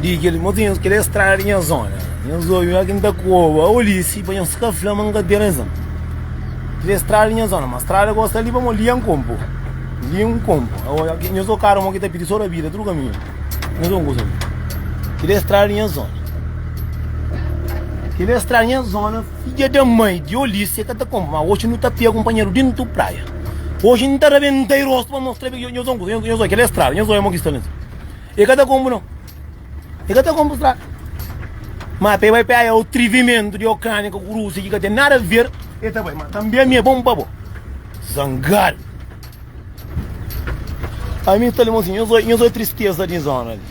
Di kel motinhus kel é strada di nha zona Nhos obi ma ki N ta koba olisi pa nhos ka fla ma N ka ten razon Kel é strada di nha zona ma strada gosi ta liba mo lia N konpo lia N konpo Nhos o kara mo ki ta pidi so rabida tudu kaminhu Nhos o kusa mi Kel é strada di nha zona Kel é strada di nha zona Fidja da mai di olisi ka ta konpo ma oxi nu ta pia kunpanheru dintu praia Oxi N ta rabenta i rostu pa mostra Nhos o kusa Nhos oi kel é strada Nhos oi mo ki sta na. E ka ta konbu no e ka ta konbu strada ma pe bai peia otrivimentu di okrania ku rusia ki ka ten nada ver e ta bai ma tambi ami e bon pa bo zangadu ami ta lembra sin nhos oi tristeza di zona li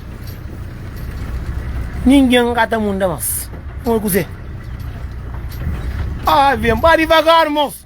ningin ka ta munda mas nhos oi kuze ave ba divagar mos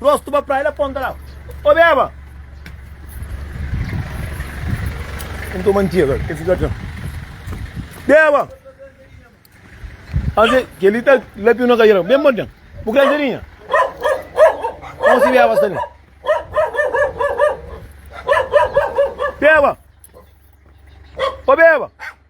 Rosto ba pra el aponta la Ô beba N toma ntira Ke fika ta Beba Aze Keli ta lapiu na kadeira Ben pa ten Bu kre serinha Kau si beba sta li Beba Ô beba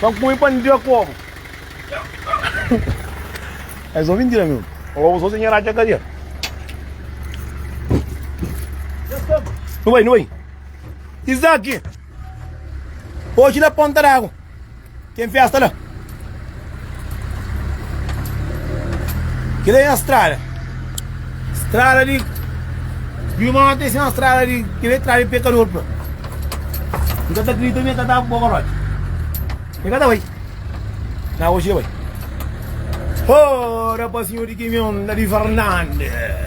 Ban kume pa n dja komu. É só mentira mesmo. Ou só sem a cadeia. Não vai, não vai. Isaac. Hoje na ponta d'água. Tem festa lá. Kel-li é nha strada Strada di Di mon até si nha strada di Kel-li é strada di pekador pa N ka ta kridita ma e ka ta bu bogoródi E ka ta bai Na oji e bai Ora pa sinhor di kimion la di Fernandes.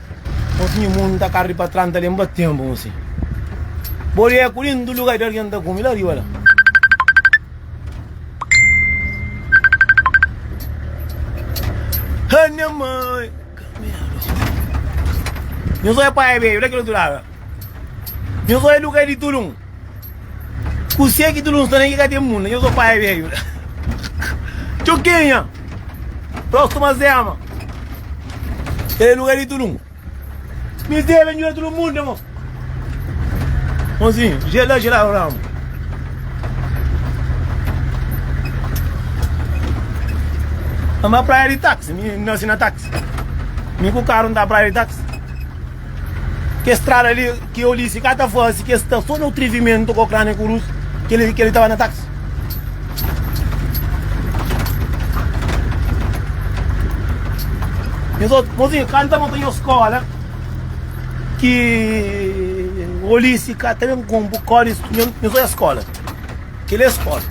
Mos mi mundo ta carri pa tran ta lembra tempo mos si Boli é cu lindo lugar de alguém ta come lá riba lá Hâ nha mãe Caminha Nhos olha pai é bem, olha aquele outro lado Nhos só é luga di tulun Kusé ki tulun sta na ki ka ten munda Nhos só paia beiu la Txukinha Próstuma Zema Kel é luga di tulun Mizé ben djuda tulun munda mo Monzinhu Jel la jel aru ramu N ba praia di táxi Mi nase na táxi Mi ku karu N ta praia di táxi Kes strada li ki Olise ka ta fase, ki es sta so na utrivimentu ku Ukrania ku Rusia, keli keli ta ba na taksi. Nhos otu, mozinha, kanta no ta nhos skola ki Olise ka ta ben kumpu kódi instrumentu, nhos oja skola. Keli e skola.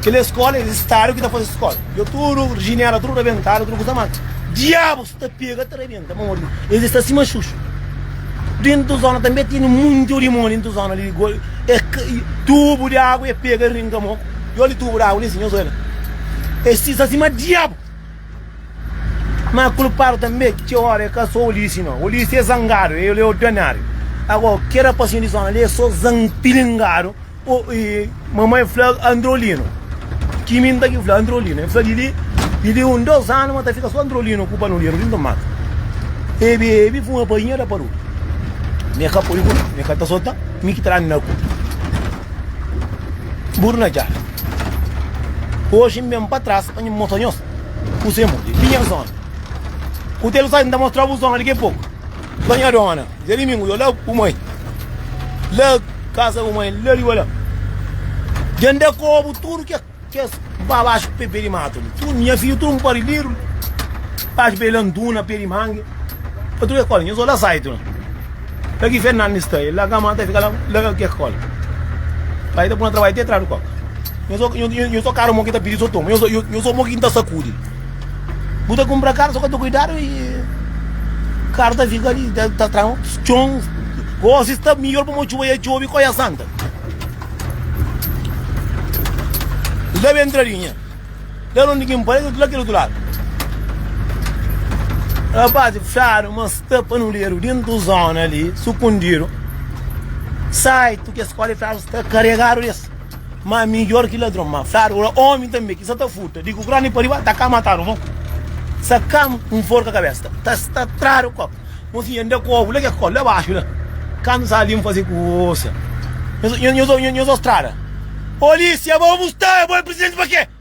Keli e skola, es stadu ki ta fase skola. Dja tudu rijinela, tudu rabentadu, tudu kusa mata. Diabus! ta pega ta rebenta ma modi es sta sima xuxu dentro do zona também tem muito limão dentro do zona ali é tubo de água é pega ringa mo eu li tubo de água assim eu sou ela é se está cima diabo mas culpado também que hora é que sou olhisse não olhisse é zangado ele é ordinário agora que era passinho de zona ali é só zangado O i mamai n fla Androlino ki mi n ta ki fla Androlino e fla di li di li un dos anu ma ta fika so Androlino ku Panuliro dintu matu e bi e bi fuma pa inha da pa rutu me ka poi buru me ka ta sota mi ki tra na ku buru na dja oji n ben pa tras pa nho mostra nhos kuse mudi ki nhas zona ku telu sa n ta mostra bu zona diki a poku sonhadona. Dia dimingu yo la ku moi la kasa ku moi la riba la dia nda kobu tudu ke kes ba baxu pe pe di matu li tudu nha fiju tudu npari liru baxu pe la nduna pe di mangi pa tudu ke kola nho so la sai tu la ki fernandi sta e la kama ta fika la la ke ke kola pa e ta puna trabai te tra di koka nho so nho so karu mo ki ta pidi so toma nho so nho so mo ki nta sakudi. Bu ta kunpra karu so ka ta kuidadu i karu ta fika li ta ta tran txon gosi sta mihor pamodi txuba ya txobi koia santa li ta ben ntra li nha la nunde ki npa la kel otu ladu rapaz fxadu ma sta pa nu ledu dentu zona li sukundidu saitu kes koli fxadu sta karegadu des Ma midjor ki ladron ma fladu ora omi tanbe ki sa ta furta di ku kroni pa riba ta ka matadu mo ku sa ka un forka kabesa ta sta tradu ku kopu mo si yende ku obu la ke kol la baxu la kandu sa alin fasi kusa nho so strada polisia ba bu sta bo e presidenti pa ke.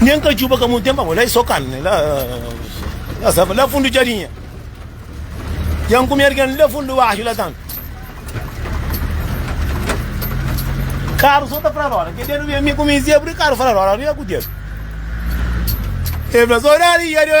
Nen ka djuba ka mun tenpa bo la e so kan la la sava la fundu djadinha Jan ku mergen li la fundu baxu la tan Karu so ta fla roda ke dedu ben mi ku mi zia bri karu fla roda ria ku dedu E fla so dadi ya de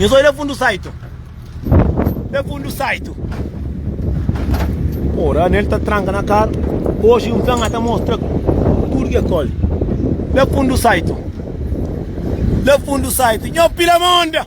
Nhos odja fundu saitu Odja fundu saitu Ô Daniel ta tranka na karu Oji un fla-m ata mostra tudu ki é koli Odja fundu saitu Odja fundu saitu Nho pila monda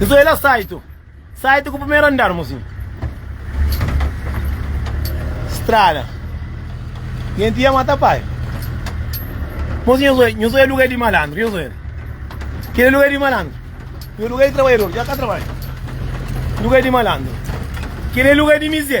Nhos bai la saitu saitu ku primeru andar mosi strada nenti ia mata pai mosi nhos bai nhos bai lugar di malandru nhos bai kila lugar di malandru nhos lugar di trabadjador dja ka trabadja lugar di malandru kila lugar di mize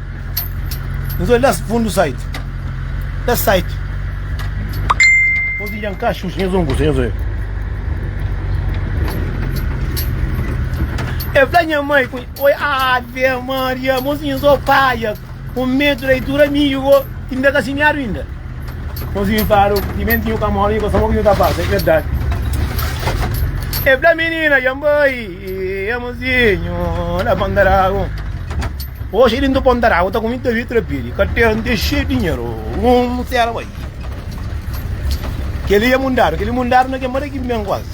Nhos olha es fundu site. Es site pode lha-m ka xuxa, nhos un kusa, nhos oja. E fla nha mai ku oi Ave Maria, mozinhus o paia, un medu da itura mi i bo i nda ka simiadu inda. Mozinhu fala, timenti nhu ka mora, nhu ka sabe o ki nhu ta fasi, e verdadi. E fla minina, dja-m bai. Amozinho na Ponta d'Água Hoje ele indo Ponta d'Água Tá com muita vitra piri Carteira tem cheio de dinheiro Um será vai Aquele é mundado Aquele mundado não quer mais que bem quase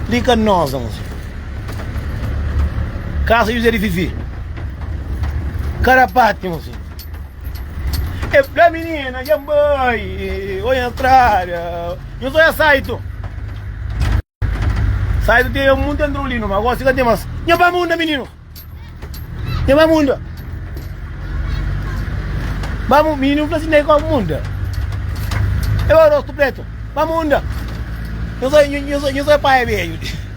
Liga nós, amozinho Casa José de Vivi Carapate, amozinho E fla minina dja N bai Oi na strada Nhos sta na Saito Saito ten munte antrolinu ma gosi ka ten mas Nha bai munda mininu Nha bai munda Bai munda Mininu fla si nai kau munda E bai rostu pretu Bai munda Nhos sta Nhos sta pai beju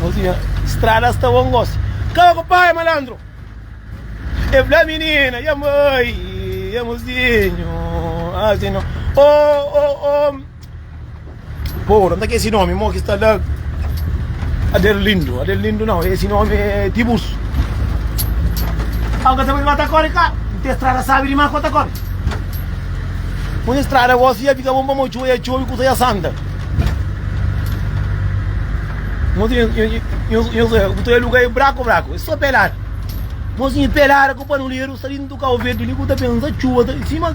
Mozinha, strada sta bom gosi. Kaba ku pai malandro. E fla menina, ya mãe, ya mozinho, assim não. Oh, oh, oh. Pô, não tá que esse nome, mo que está lá. Aderlindo, Aderlindo não, esse nome é Tiburcio. Alguém sabe de matar corre, cara? Não tem estrada, sabe de matar corre. Uma estrada, você ia ficar bom para mochua, ia chover, custa ia santa. Mozinho, bu ta aluga e braku braku, e so pelada. Mozinho pelada ku panuleru, sa dintu kau verdi li, bu ta pensa txuba ta. Sima.